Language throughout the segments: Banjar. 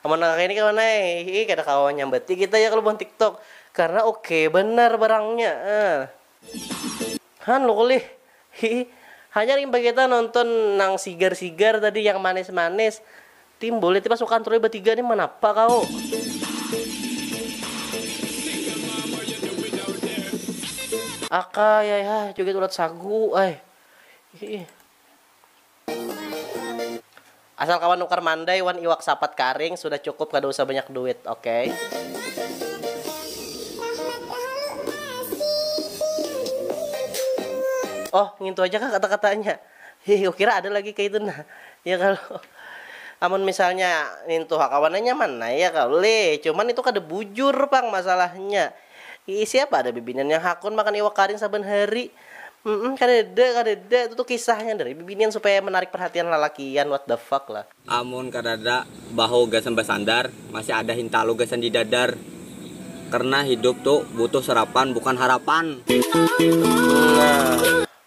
Amun nang kaya ini kawan ai, hihi kada kawa manyambati kita ya kalo buhan tiktok karna oke banar barangnya ah. Han lho kulih, hihi. Hanyar imbah kita nonton nang sigar-sigar tadi yang manis-manis, timbul itu pasukan Troy batiga nih manapa kaw. Akay ai hah joget ulat sagu ai, hihi. Asal kawan nukar mandai wan iwak sapat karing sudah cukup kada usah banyak duit ok. Oh ngintu aja kah kata katanya hih kukira ada lagi kaitu nah ya kalo amun misalnya nintu ha kawannya nyaman nah ya kalo lih cuman itu kada bujur pang masalahnya Iih siapa ada bibinian yang hakun makan iwak karing saban hari. Mmm kadada kadada itu tuh kisahnya dari bibinian supaya menarik perhatian lalakian what the fuck lah. Amun kadada bahu gasan basandar, masih ada hintalu gasan di dadar. Karna hidup tu butuh sarapan bukan harapan. Nah.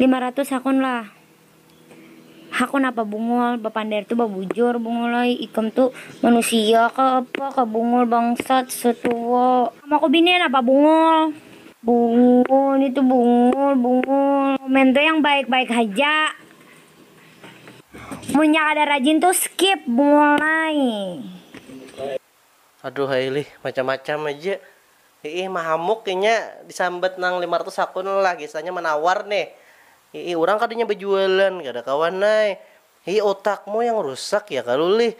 Lima ratus hakun lah. Hakun apa Bungul, bapander tu babujur Bungul ai, ikam tu manusia kah apa kah Bungul bangsat, setuwa. Kamu aku binian apa Bungul? Bungul, nitu Bungul, Bungul. Komen tu yang baik-baik haja. Munnya kada rajin tu skip Bungul ai. Aduh ai lih, macam-macam aja. Iih mahamuk inya disambat nang lima ratus hakun lah, gesanya manawar nih. Iih urang kada inya bajualan, kada kawan ai. Iih otakmu yang rusak ya kalu lih.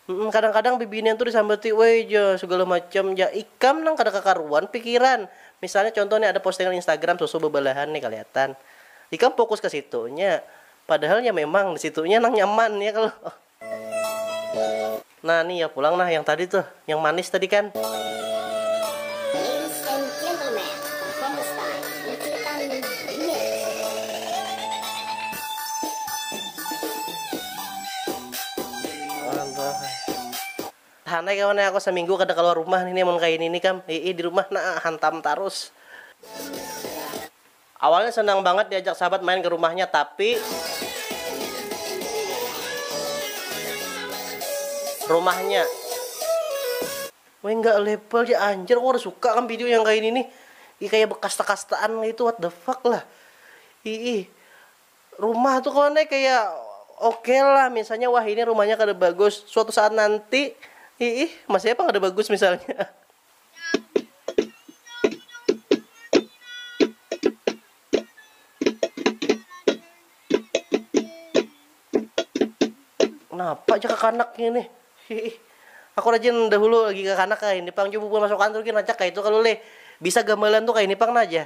Humm kadang-kadang bibinian tu disambati woi ja, segala macam ja. Ikam nang kada kakaruan pikiran. Misalnya contoh nih ada postingan instagram susu bebalahan nih kaliatan. Ikam fokus ke situnya. Padahal ya memang di situnya nang nyaman ya kalo. Nah nih ya pulang nah yang tadi tuh yang manis tadi kan. Hanai kawan ya aku seminggu kada keluar rumah nih nih mun kayak ini nih kam. Ii di rumah nah hantam tarus. Awalnya senang bangat diajak sahabat main ke rumahnya tapi rumahnya. Weh enggak level ja anjir aku kada suka kam video yang kaini nih ih kaya bekasta-kastaan kaitu what the fuck lah iih rumah tuh kawan ai kaya ok lah misalnya wah ini rumahnya kada bagus suatu saat nanti iih masih ai pang kada bagus misalnya. Kenapa aja kakanaknya nih? Hiih. Aku rajin dahulu lagi kakanak kayak ini pang. Coba bubuhan masuk kantor gin rancak kayak itu kalu leh. Bisa gamalan tuh kayak ini pang nah aja.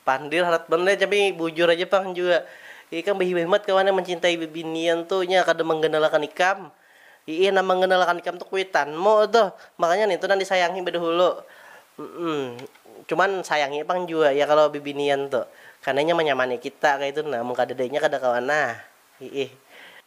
Pandil harat banar ya tapi bujur aja pang jua ikam bahimat-himat kawan yang mencintai bibinian tu nya kada mangganalakan ikam iih nang mangganalakan ikam tu kuitanmu tuh makanya nintu nang disayangi badahulu mm cuman sayangi pang jua ya kalo bibinian tu karna inya manyamani kita kaitu nah mun kadada inya kada kawa nah iih.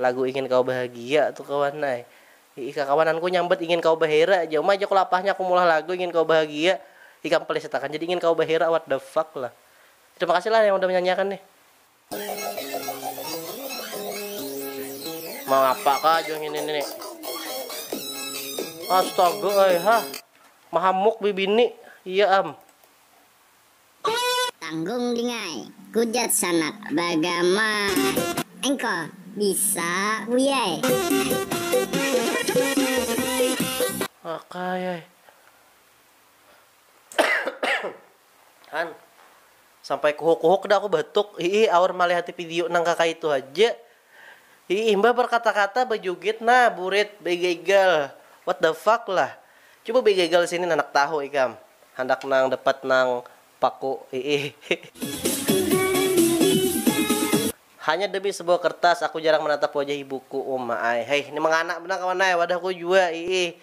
Lagu Ingin Kau Bahagia tu kawan ai. Hi'i kakawanan ku nyambat Ingin Kau Bahera ja. Uma ja ku lapahnya aku meulah lagu Ingin Kau Bahagia. Ikam pelisit akan jadi Ingin Kau Bahera what the fuck lah. Terima kasih lah yang udah menyanyiakan nih. Mangapa kah jua ngini ni. Astaga ai hah. Mahamuk bibini. Iya am. Tanggung dingai, kujat Sanap, bagama engko bisa buyai. Wakayai. Han, sampai kuhuk-kuhuk dah aku batuk, hiih aur malihati video nang kakaitu haja. Hi imbah berkata-kata bejugit nah burit begegal what the fuck lah cuba begegal sini nanak tahu ikam handak nang dapat nang paku hiih. Hanya demi sebuah kertas aku jarang menatap wajah ibuku uma ai haih ni mengana banar kawan ai wadahku jua hiih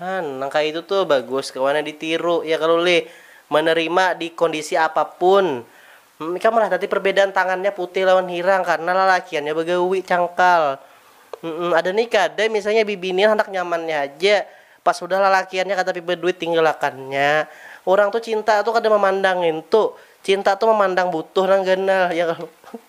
Han, nang kaya itu tuh bagus kawana ditiru ya kalo lih, menerima di kondisi apapun. Hm, ikam lah tadi perbedaan tangannya putih lawan hirang karena lalakiannya bagawi, cangkal. Hm, ada ni kada misalnya bibinian handak nyamannya haja, pas sudah lalakiannya katapi baduit tinggalakannya. Urang tuh cinta tuh kada mamandang ngintu, cinta tuh mamandang butuh nang ganal, ya kalo.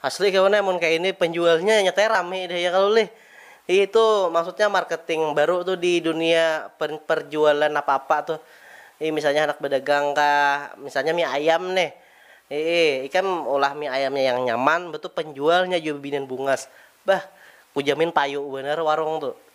Asli kawan amun kaya ini penjualnya nyatanya rami deh ya kalu lih itu maksudnya marketing baru tuh di dunia perjualan apa apa tuh i misalnya handak bedagang kah misalnya mie ayam nih ii ikam ulah mie ayamnya yang nyaman betu penjualnya jua bibinian bungas bah kujamin payu banar warung tuh.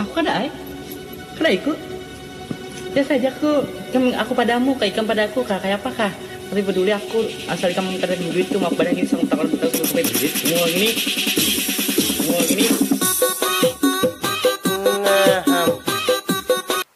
Aku kada ai. Kada ikut. Biasa haja aku. Ikam aku padamu kah, ikam pada aku kah, kaya apa kah. Tapi baduli aku, asal ikam kada bini duit tu, ma aku pada ngini sanggup takon betalu sanggup bae duit. Mual ngini. Mual ngini. Ngaham.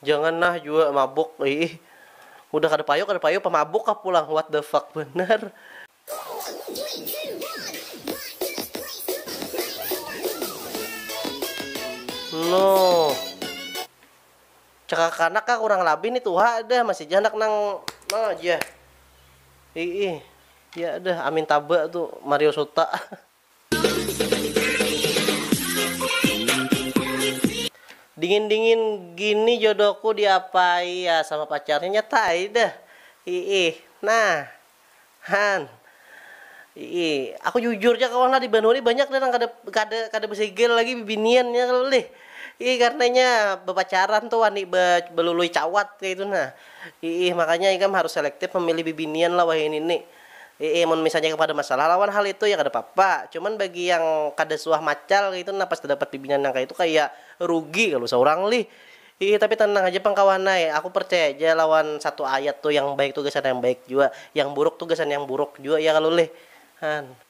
Jangan nah jua mabuk iih. Udah kada payu kada payu pamabuk kah pulang what the fuck banar. Noh. Cakakanak kah kurang labih nih tuha dah masih ja handak nang no jah. Iih. Ya dah amin taba tu Mario Suta. Dingin dingin gini jodohku diapai ya sama pacarnya nyata ai deh iih nah han iih aku jujur ja kawan lah di banua ni banyak deh nang kada kada kada besigil lagi bibinian nya kalo lih iih karna inya bepacaran tu wani be belului cawat kaitu nah iih makanya ikam harus selektif memilih bibinian lah wahini nih. Iih mun misalnya yang kada masalah lawan hal itu ya kada papa, cuman bagi yang kada suah macal kaya itu nah pas tadapat bibinian nang kaya itu kaya rugi kalu saurang lih. Iih tapi tanang haja pang kawan ai, aku percaya ja lawan satu ayat tu yang baik tu gasan yang baik jua, yang buruk tu gasan yang buruk jua ya kalu lih. Han.